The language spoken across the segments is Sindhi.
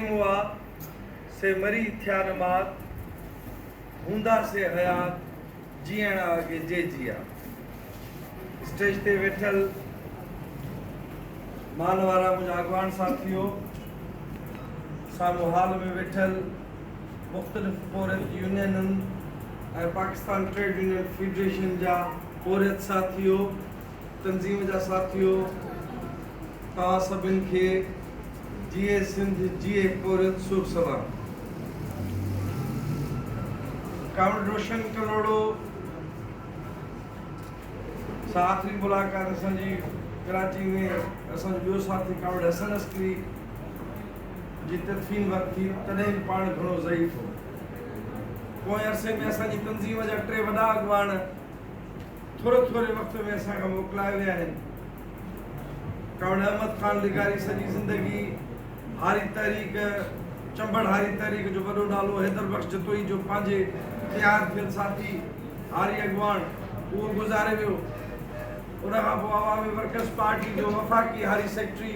مئا سي مري ٿيا نه مات، هوندا سي حيات جيئڻ آگي جي جيا. اسٽيج تي ويٺل مال وارا منهنجا اڳواڻ ساٿيو، سامهون هال ۾ ويٺل مختلف پورهيت يونينن ۽ پاڪستان ٽريڊ يونين فيڊريشن جا پورهيت ساٿيو، تنظيم جا ساٿيو توهان سڀن کي جيئي سنڌ جيئي پورهيت شوڀ سلام. ڪامريڊ روشن ڪلهوڙو سان آخري ملاقات اسان جي ڪراچي ۾ اسان جو ٻيو ساٿي ڪامريڊ حسن عسڪري جي تدفين وقت ٿي تڏهن به پاڻ گهڻو ضعيف هو پوئين عرصي ۾ اسان جي تنظيم جا ٽي وڏا اڳواڻ ٿوري ٿوري وقت ۾ اسان کان موڪلائي ويا آهن. ڪاوڙ احمد خان لغاري سڄي زندگي هاري تحريڪ، چنبڙ هاري تحريڪ جو وڏو نالو حيدر بخش جتوئي جو پنهنجي تيار ٿيل ساٿي، هاري اڳواڻ، اهو گذاري ويو. ان کان پوء عوامي ورڪرز پارٽي جو وفاقي هاري سيڪريٽري،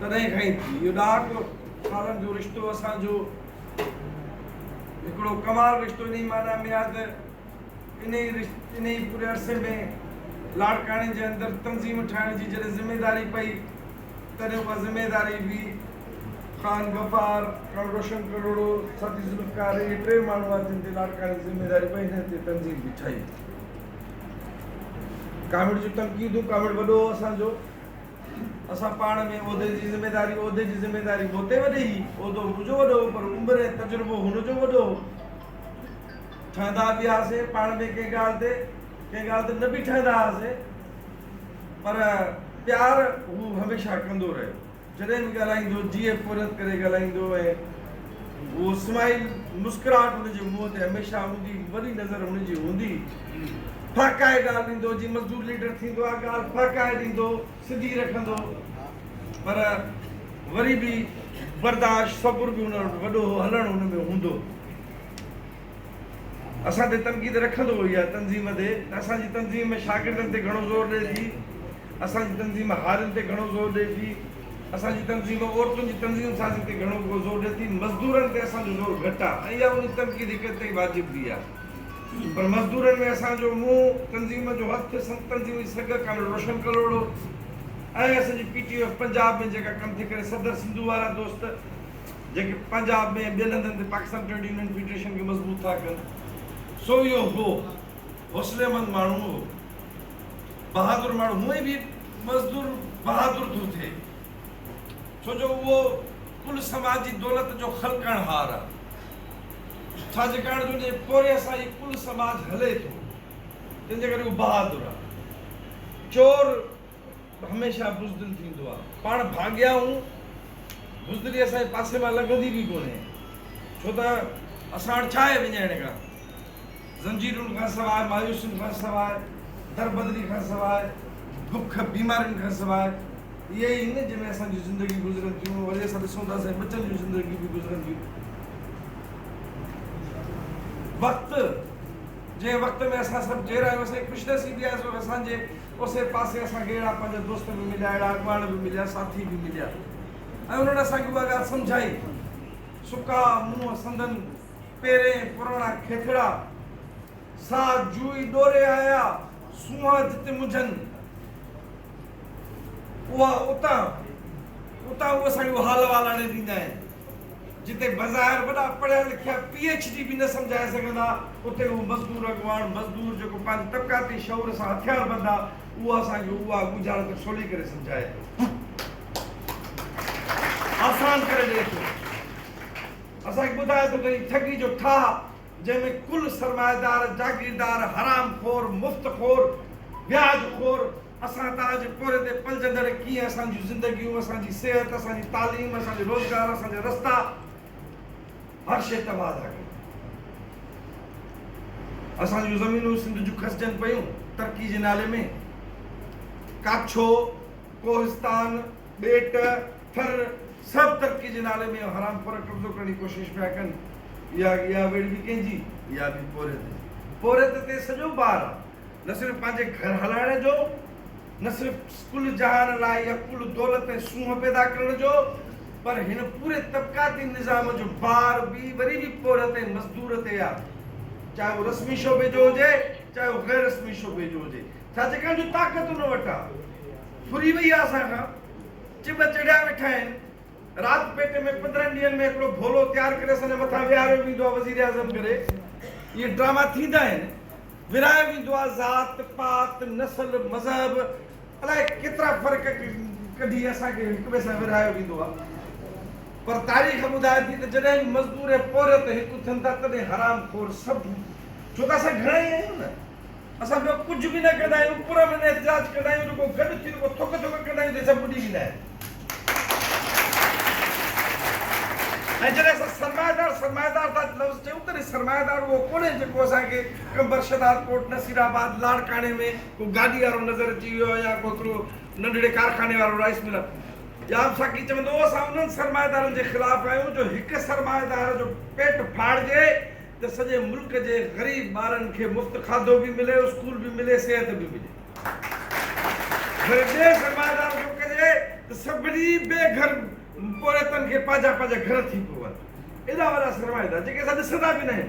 تڏهن کان ئي ٿي. اهو ڏاهپ سالن جو رشتو اسان جو هڪڙو ڪمال رشتو انهي معنيٰ ۾ آهي ته انهي انهي پوري عرصي ۾ لاڙڪاڻي جي اندر تنظيم ٺاهڻ جي جڏهن ذميداري پئي تڏهن اها ذميداري به خان غفار، خان روشن ڪلهوڙو، ساٿي ذوالفقار اهي ٽي ماڻهو هئا جن تي لاڙڪاڻي جي ذميداري پئي انهي تي تنظيم به ٺهي. ڪاميڙ جون تنقيدون، ڪاميڙ وڏو هو اسان جو. اسان پاڻ ۾ عهدي جي ذميداري عهدي جي ذميداري مون تي وڌي هي عهدو منهنجو وڏو هو پر عمر ۽ تجربو هن جو وڏو هو ٺهندا به هئاسين پاڻ ۾ ڪنهن ڳالهه تي ڪنهن ڳالهه تي نه به ٺهندا هئاسين پر پيار هو هميشه ڪندو رهيو جڏهن به ڳالهائيندو جيء پورهيت ڪري ڳالهائيندو ۽ هو اسماعيل مسڪراهٽ هن جي منهن تي هميشه هوندي وڏي نظر هن جي هوندي ڦهڪائي ڳالهه ڏيندو جي مزدور ليڊر ٿيندو آهي ڳالهه ڦهڪائي ڏيندو سڌي رکندو پر وري به برداشت صبر به هن وٽ وڏو هو هلڻ هن ۾ هوندو. اسان تي تنقيد رکندو هو يا تنظيم تي ته اسان جي تنظيم ۾ شاگردن تي گهڻو زور ڏئي ٿي، اسان جي تنظيم هارين تي گهڻو زور ڏئي ٿي، اسان جي تنظيم عورتن جي تنظيم سازي تي گهڻو ڪو زور ڏئي ٿي، مزدورن تي اسان جو زور گهٽ آ ۽ اها انهي تنقيد هڪ حد تائين واجب به آ پر مزدورن ۾ اسان جو منهن تنظيم جو هٿ سنڌ تنظيم جي سگهه ڪامريڊ روشن ڪلهوڙو ۽ اسان جي پي ٽي ايف پنجاب ۾ جيڪا ڪم ٿي ڪري صدر سنڌو وارا دوست جيڪي پنجاب ۾ ۽ ٻين هنڌن تي پاڪستان ٽريڊ يونين فيڊريشن کي مضبوط ٿا ڪن، سو اهو هو، حوصلي مند ماڻهو هو، بهادر ماڻهو، هونء به مزدور بهادر ٿو ٿئي، ڇو جو اهو ڪل سماجي دولت جو خلقڻهار آ، ڇاجيڪاڻ جو ان جي پورهيي سان ئي ڪل سماج هلي ٿو، تنهن جي ڪري اهو بهادر آ. چور! هميشه بزدل ٿيندو آ. پاڻ ڀاڳيا آهون. بزدلي اسان جي پاسي مان لنگهندي به ڪونهي. ڇو ته اسان وٽ ڇا آهي وڃائڻ کان؟ زنجيرن کان سواء، مايوسين کان سواء، دربدري کان سواء، بک بيمارين کان سواء. اهي ئي هن جنهن ۾ اسان جون زندگيون گذرن ٿيون. وري اسان ڏسون ٿا اسان جي ٻچن جون زندگيون به گذرن ٿيون. وقت، جنهن وقت ۾ اسان سڀ جيئرا آهيون، اسان جي خوشنصيبي آهي سو اسان جي اوسي پاسي اسان کي اهڙا پنهنجا دوست به مليا، اهڙا اڳواڻ به مليا، ساٿي به مليا ۽ انهن اسان کي اها ڳالهه سمجهائي. سڪا منهن سندن پيرين پراڻا کيٿڙا، ساهه جوئي ڏوري آيا، سونهان جت منجهن اها اتان اتان هو اسان کي اها حال احوال آڻي ڏيندا آهن. جتي بظاهر وڏا پڙهيا لکيا پي ايڇ ڊي به نه سمجهائي سگهندا اتي هو مزدور اڳواڻ مزدور جيڪو پنهنجي طبقاتي شعور سان هٿيار بند آ اهو اسان کي اها ڳجهارت سولي ڪري سمجهائي ٿو آسان ڪري ڏئي ٿو اسان کي ٻڌائي ٿو ته هي ٺڳي جو ٺاهه جنهن ۾ ڪل سرمائيدار جاگيردار حرام خور مفت خور وياج خور اسان تاج پوري تي پلجندڙ ڪيئن اسان جون زندگيون، اسان جي صحت، اسان جي تعليم، اسان جو روزگار، اسان جا رستا هر شيء تباهه ٿا ڪن. اسان جون زمينون سنڌ جون کسجن پيون ترقي جي نالي ۾. ڪاڇو، ڪوهستان، ٻيٽ، ٿر سڀ ترقي جي نالي ۾ حرام خور قبضو ڪرڻ جي ڪوشش پيا ڪن. اها ويڙهه به ڪنهن جي؟ اها به پورهيت جي. پورهيت تي سڄو بار آهي. نه صرف پنهنجي گهر هلائڻ جو، نه صرف ڪل جهان لاء يا ڪل دولت ۽ سونهن پيدا ڪرڻ جو، پر هن پوري طبقاتي نظام جو بار به وري به پوڙهه تي مزدور تي آ. چاهي اهو رسمي شعبي جو هجي، چاهي اهو غير رسمي شعبي جو هجي. ڇا جيڪا جو طاقت ان وٽ آ، ڦري وئي آ اسان کان. چٻ چڙهيا ويٺا آهن. رات پيٽي ۾ پندرهن ڏينهن ۾ هڪڙو ڀولو تيار ڪري سندي مٿان ويهاريو ويندو آهي وزيراعظم ڪري اهي ڊراما ٿيندا آهن ورهايو ويندو آهي ذات پات نسل مذهب الاء ڪيترا فرق ڪڍي اسان کي هڪ ٻئي سان ورهايو ويندو آهي پر تاريخ ٻڌائي ٿي ته جڏهن به مزدور ۽ پورهيت هڪ ٿين ٿا تڏهن حرام خور سڀ ڇو ته اسان گهڻا ئي آهيون نه اسان ٻيو ڪجهه به نه ڪندا آهيون پر امن احتجاج ڪندا آهيون رڳو گڏ ٿي رڳو ٿڪ ٿڪ ڪندا آهيون ته سڀ ٻڏي ويندا آهن ۽ جڏهن اسان سرمائيدار سرمائيدار ٿا لفظ چيون تڏهن سرمائيدار اهو ڪونهي جيڪو اسان کي قمبر شهداد ڪوٽ نصير آباد لاڙڪاڻي ۾ ڪو گاڏي وارو نظر اچي ويو آهي يا ڪو هڪڙو ننڍڙي ڪارخاني وارو رائيس ملر جام ساقي چوندو هو اسان انهن سرمائيدارن جي خلاف آهيون جو هڪ سرمائيدار جو پيٽ ڦاڙجي ته سڄي ملڪ جي غريب ٻارن کي مفت کاڌو به ملي اسڪول به ملي صحت به ملي وري ٻئي سرمائيدار جو ڪجي ته سڀني بي گهر پورهيتن کي پنهنجا پنهنجا گهر ٿي پون ايڏا وڏا سرمائيدار جيڪي اسان ڏسندا به ناهن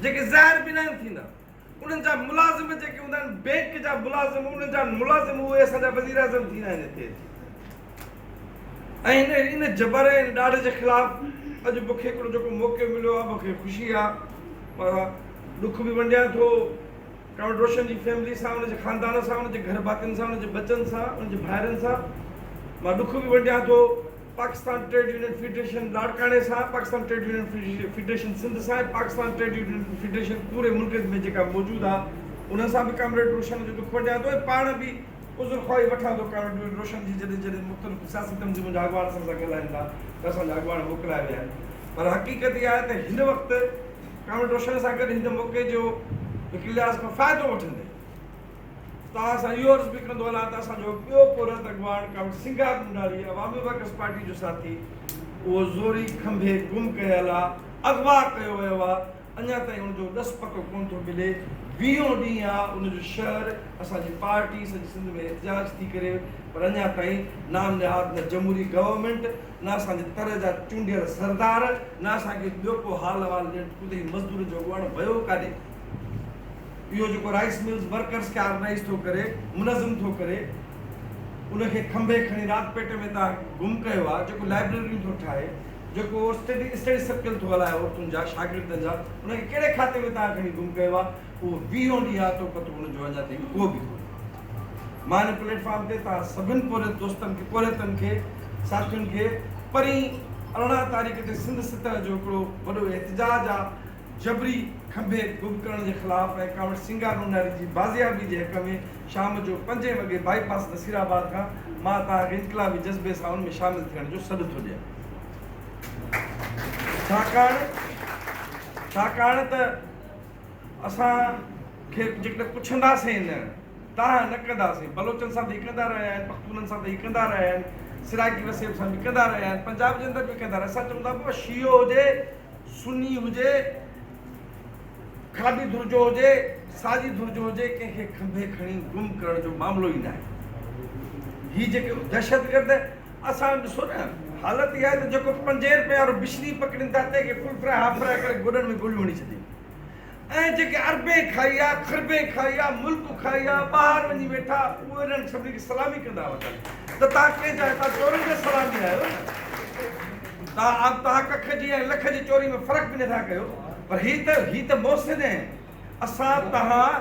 جيڪي ظاهر به ناهن ٿيندا انهن جا ملازم جيڪي هوندا آهن بينڪ جا ملازم انهن جا ملازم اهي اسان جا وزيراعظم ٿيندا آهن هتي اچي ۽ هن ان جبر ۽ ڏاڍ جي خلاف اڄ مونکي هڪڙو جيڪو موقعو مليو آهي مونکي خوشي آهي پر ڏک به ونڊيان ٿو ڪمريڊ روشن جي فيملي سان ان جي خاندان سان ان جي گهر ڀاتين سان ان جي ٻچن سان ان جي ڀائرن سان مان ڏک به ونڊيان ٿو پاڪستان ٽريڊ يونين فيڊريشن لاڙڪاڻي سان، Pakistan trade union federation Sindh سان ۽ پاڪستان ٽريڊ يونين فيڊريشن پوري ملڪ ۾ جيڪا موجود آ انهن سان به ڪامريڊ روشن جو دک ونڊيان ٿو ۽ پاڻ به عذر خواهي وٺان ٿو ڪامريڊ روشن جي جڏهن جڏهن مختلف سياسي تنظيمن جا اڳواڻ اسان سان ڳالهائين ٿا ته اسان جا اڳواڻ موڪلايا ويا آهن پر حقيقت اها آهي ته هن وقت ڪامريڊ روشن سان گڏ هن موقعي جو هڪ لحاظ کان فائدو وٺندي توهان سان اهو عرض به ڪندو هلان ته اسان جو ٻيو پورهيت اڳواڻ comrade Singar Mondari Awami workers party جو ساٿي اهو زوري کنڀي گم ڪيل آ، اغوا ڪيو ويو آ، اڃا تائين ان جو ڏس پتو ڪونه ٿو ملي، ويهون ڏينهن آ ان جو شهر اسان جي پارٽي سڄي سنڌ ۾ احتجاج ٿي ڪري پر اڃا تائين نام نهاد نه جمهوري گورنمينٽ نه اسان جي تر جا چونڊيل سردار نه اسان کي ٻيو ڪو حال احوال ڏين ته ڪتي مزدورن جو اڳواڻ ويو ڪاڏي؟ اهو جيڪو رائيس ملز ورڪرز کي آرگنائيز ٿو ڪري منظم ٿو ڪري ان کي کنڀي کڻي رات پيٽ ۾ تان گم ڪيو آهي جيڪو لائبريريون ٿو ٺاهي جيڪو اسٽڊي اسٽڊي سرڪل ٿو هلائي عورتن جا شاگردن جا ان کي ڪهڙي کاتي ۾ تان کڻي گم ڪيو آهي اهو ويهون ڏينهن آتو پتو ان جو اڃا تائين ڪو به ڪونهي مان ان پليٽ فارم تي تان سڀن پورهيت دوستن کي پورهيتن کي ساٿين کي پرين ارڙهن تاريخ تي سنڌ ستر جو هڪڙو وڏو احتجاج آهي جبري کنڀي گم ڪرڻ جي خلاف ۽ ڪانوٽ سينگار نوناري جي بازيابي جي حق ۾ شام جو پنجين وڳي بائي پاس نصير آباد کان مان توهان کي انقلابي جذبي سان ان ۾ شامل ٿيڻ جو سڏ ٿو ڏيان ڇاڪاڻ ڇاڪاڻ ته اسان کي جيڪڏهن پڇنداسين نه تان نه ڪنداسين بلوچن سان به ڪندا رهيا آهن پختونن سان به ڪندا رهيا آهن سرائڪي وسيب سان به ڪندا رهيا آهن پنجاب جي اندر به ڪندا رهيا اسان چون ٿا پوء شيعو هجي سني هجي، کاٻي ڌر جو هجي، ساڄي ڌر جو هجي، ڪنهن کي کنڀي کڻي گم ڪرڻ جو معاملو ئي ناهي. هي جيڪي دهشتگرد اسان ڏسو نه حالت اها آهي ته جيڪو پنجين رپين وارو بشني پڪڙين ٿا تنهن کي ڦل ڦرائي هاف ڦرائي ڪري گوڏن ۾ گوليون هڻي ڇڏين ۽ جيڪي اربين کائي آ، کربين کائي آ، ملڪ کائي آ، ٻاهر وڃي ويٺا، اهي انهن سڀني کي سلامي ڪندا وتن ته تهان ڪنهن جا هتان چورن جا سلامي آهيو نه؟ تهان اب تهان ڪک جي ۽ لک جي چوري ۾ فرق به نه ٿا ڪيو، پر هي ته هي ته محسن اهي، اسان تهان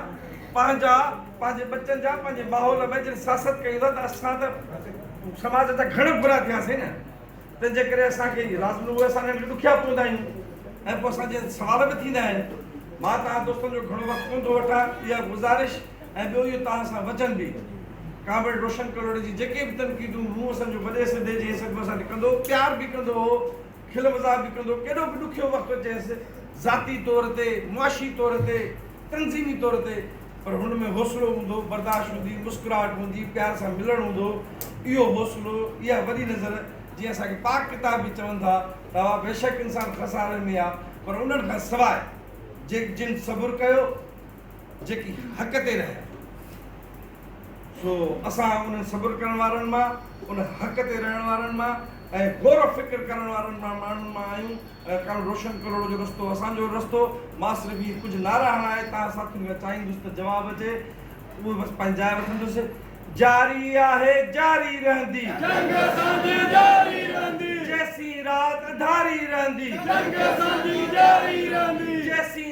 پنهنجا پنهنجي ٻچن جا پنهنجي ماحول ۾ جن سياست ڪيون ٿا ته اسان ته سماج جا گهڻ برا ٿياسين نه؟ تنهنجي ڪري اسان کي رات جو اهي ساڻيهڙا ڏکيا پوندا آهن ۽ پوء اسان جي سوال به ٿيندا آهن. مان توهان دوستن جو گهڻو وقت ڪونه ٿو وٺان، اها گذارش ۽ ٻيو اهو توهان سان وچن به. ڪامريڊ روشن ڪلهوڙي جي جيڪي به تنقيدون مون اسان جو وڏي سنڌي جي حيثيت ۾ اسان تي ڪندو هو، پيار به ڪندو هو، کل مذاق به ڪندو هو، ڪيڏو به ڏکيو وقت اچيس، ذاتي طور تي، معاشي طور تي، تنظيمي طور تي پر هن ۾ حوصلو هوندو، برداشت هوندي، مسڪراهٽ هوندي، پيار سان ملڻ هوندو، اهو حوصلو، اها وڏي نظر جنهن اسان کي پاڪ ڪتاب به چون ٿا ته اها بيشڪ انسان خساري ۾ آهي پر انهن کان سواء جن صبر ڪيو، جيڪي حق تي رهيا. سو اسان انهن صبر ڪرڻ وارن مان، ان حق تي رهڻ وارن مان ۽ غور و فڪر ڪرڻ وارن مان ماڻهن مان آهيون ۽ ڪڻ روشن ڪلهوڙو جو رستو اسان جو رستو. مان صرف اهي ڪجهه نعرا هڻائي تهان ساٿين کان چاهيندس ته جواب اچي اهو بس پنهنجي جاء وٺندس. جاري آهي جاري رهندي. جنگ اسان جي جاري رهندي. جيسين رات اڌاري رهندي. جنگ اسان جي جاري رهندي. جيسين.